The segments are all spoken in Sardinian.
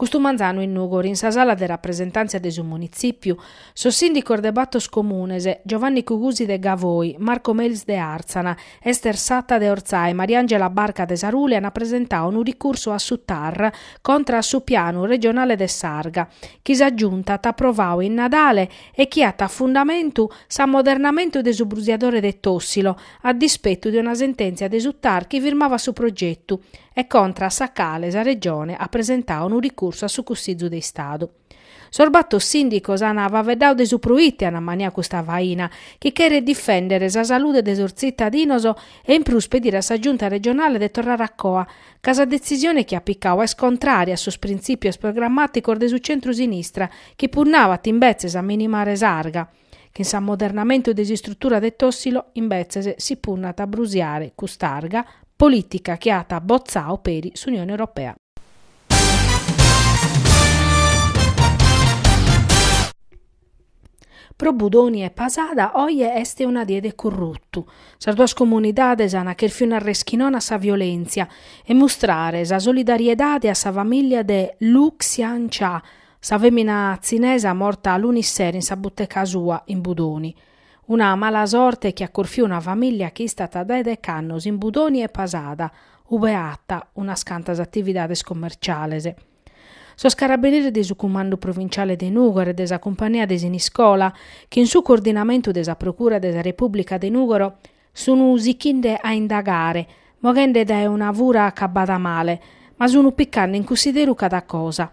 Custu manzanu in Nùgoro in sa sala de rapresentàntzia de su Munitzìpiu, sos sìndicos de bator comunes, Giovanni Cugusi de Gavoi, Marco Melis de Àrtzana, Ester Satta de Ortzai e Mariangela Barca de Sarule ant presentadu unu ricursu a su TAR contra a su pianu regionale de s'arga, chi sa Giunta at aprovadu in Nadale e chi at a fundamentu s'ammodernamentu de su brusiadore de Tòssilo, a dispetu de una sentèntzia de su TAR chi firmavat su progetu, e contra a sa cale sa Regione at presentadu unu ricursu a su Cussizu de Istadu. Sos bator sìndicos ant faveddadu de su proite ant ammaniadu custa faina, chi cheret difèndere sa salude de sos tzitadinos e in prus pedire a sa Giunta regionale de torrare a coa, ca sa detzisione chi at picadu est contrària a sos printzìpios programmàticos de su centru-sinistra chi punnabat imbetzes a minimare s'arga. Chin s'ammodernamentu de s'istrutura de Tossilo, imbetzes, si punnat a brusiare cust'arga, polìtica chi at botzau peri s'Unione Europea. Pro Budoni e Pasada oje est una die de corrutu. Sas duas comunidades an cherfiu nàrrer chi nono a sa violèntzia e mustrare sa solidariedade a sa familia de Lu Xian Cha, Sa fèmina tzinesa morta lunis sero in sa buteca sua in Budoni. Una mala sorte chi at corfiu una famìllia chi istat dae dech'annos in Budoni e Pasada, ube at unas cantas atividades commerciales. Sos carabineris de su Cumandu Provinciale de Nùgoro e de sa Cumpania de Siniscola, chin su coordinamentu de sa Procura de sa Repùblica de Nùgoro, Sunu sichinde a indagare, moghende dae una fura acabada male, ma sunu picande in cussideru cada cosa.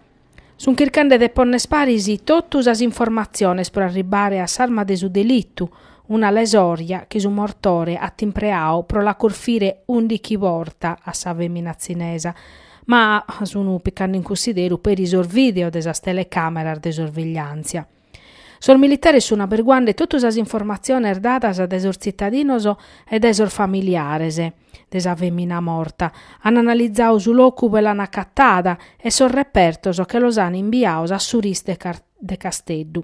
Sun chircande de pònner paris totu sas informatziones pro arribare a s'arma de su delitu, una lesòrja chi su mortore at impreadu pro la corfire ùndichi bortas a sa fèmina tzinesa, ma sunu picande in cussideru peri sos vìdeos de sas telecàmeras de sorvegliàntzia. Sos militares sun aberguande totu sas informatziones dadas dae sos tzitadinos e dae sos familiares de sa fèmina morta, an analizadu su locu ue l'an acatada e sos repertos che los an imbiados a su RIS de Casteddu.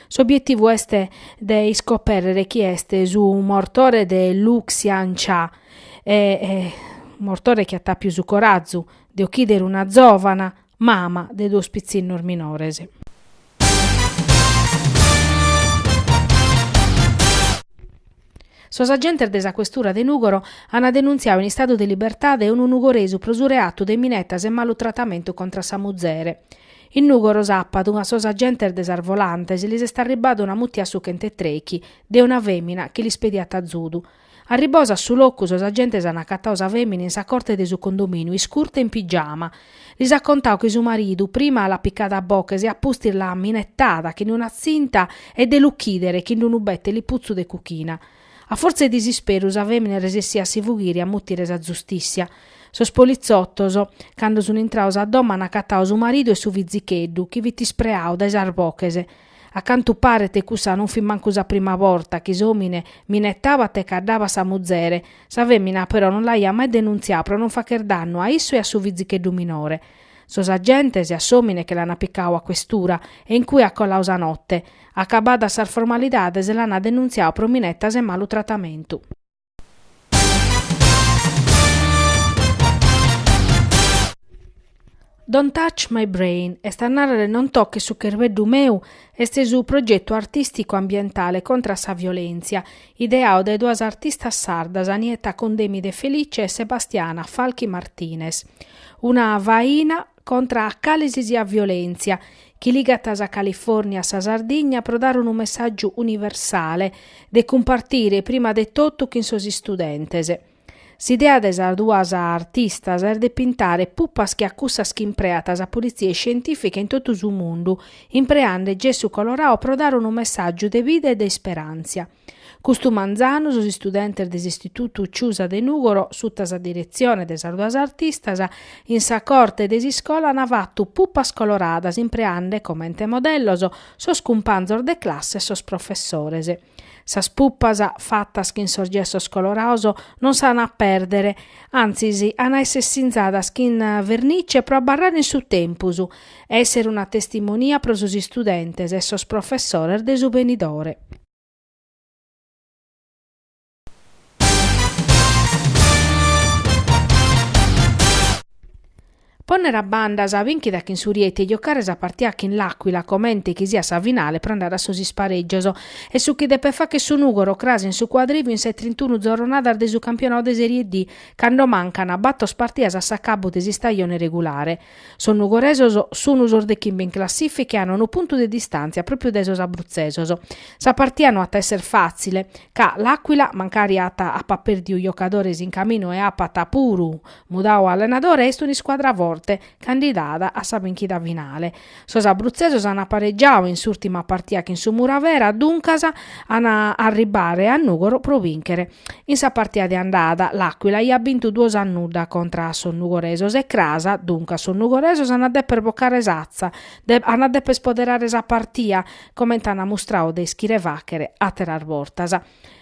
S'obietivu est de iscopèrrere chie est su mortore de Lu Xian Cha e mortore chi at àpiu su corazu de ochìdere una zòvana, Mama de duos pitzinnos minores. Sos agentes de sa questura de Nùgoro ant denuntziadu in istadu de libertade unu nugoresu pro su reatu de minetas e malu tratamentu contra sa muzere. In Nùgoro sàpadu a sos agentes de sas volantes lis est arribada una mutia a su chentu e trèichi de una fèmina chi lis pediat azudu. Arribados a su locu sos agentes an acatadu sa fèmina in sa corte de su condomìniu iscurta e in pigiama. Lis at contadu chi su maridu prima l'at picada a boches e a pustis l'at minetada chin d'una tzinta e de l'uchìdere chin d'unu bete liputzu de cuchina. A fortza 'e disisperu sa fèmina est resessida a si fughire e a mutire sa zustìssia. Sos politzotos, cando sun intrados a domo, an acatadu su maridu e su fizicheddu chi fit ispreadu dae sas boches. A cantu paret cussa non fit mancu sa prima borta chi s'òmine minetabat e caddabat sa muzere, sa fèmina però non l'aiat mai denuntziadu pro non fàcher dannu a issu e a su fizicheddu minore. Sos agentes a s'òmine che l'ana picadu a questura e in cue at coladu sa note, acabadas sas formalidades l'ana denuntziadu pro minetas e malu tratamentu. Don't Touch My Brain, est a nàrrere Non toches su cherbeddu meu, est su progetu artìsticu ambientale contra a sa violèntzia, ideadu dae duas artistas sardas, Nietta Condemi De Felice e Sebastiana Falchi Martinez. Una faina contra a cale si siat violèntzia, chi ligat sa Califòrnia a sa Sardigna pro dare unu messàgiu universale, de cumpartire prima de totu chin sos istudentes. S'idea de sas duas artistas est de pintare pupas che a cussas chi impreat sa politzia iscientìfica in totu su mundu, impreande gessu coloradu pro dare unu messàgiu de bida e de isperàntzia. Custu manzanu sos istudentes de s'Istitutu Ciusa de Nùgoro, suta sa diretzione de sas duas artistas, in sa corte de s'iscola an fatu pupas coloradas impreande comente modellos sos cumpanzos de classe e sos professores. Sas pupas, fatas chin sos gessos colorados, non s'an a pèrdere, antzis an a èssere sinzadas chin vernice pro abarrare in su tempus e èssere una testimonia pro sos istudentes e sos professores de su benidore. Pònnere a banda sa bìnchida chin su Rieti e giocare sa partia chin L'Aquila comente chi siat sa finale pro andare a sos isparègios est su chi depet fàcher su Nùgoro cras in su Cuadrìviu in sas trintunu zorronadas de su campionadu de Serie D cando mancan batos partias a s'acabbu de s'istajone regulare. Sos nugoresos sunu sos de chimbe in classifica e an unu puntu de distàntzia pròpiu dae sos abrutzesos. Sa partia no at a èssere fàtzile, ca L'Aquila, mancari at apat pèrdiu giocadores in caminu e apat puru mudadu allenadore, est un'iscuadra forte, candidada a sa bìnchida finale. Sos abrutzesos an aparegiadu in s'ùrtima partia chin su Muravera, duncas an a arribare a Nùgoro pro bìnchere. In sa partia de andada l'Àquila aiat bintu duos a nudda contra a sos nugoresos e cras, duncas sos nugoresos an a dèpere bocare s'atza, an a dèpere ispoderare sa partia, comente an mustradu de ischire fàchere àteras bortas.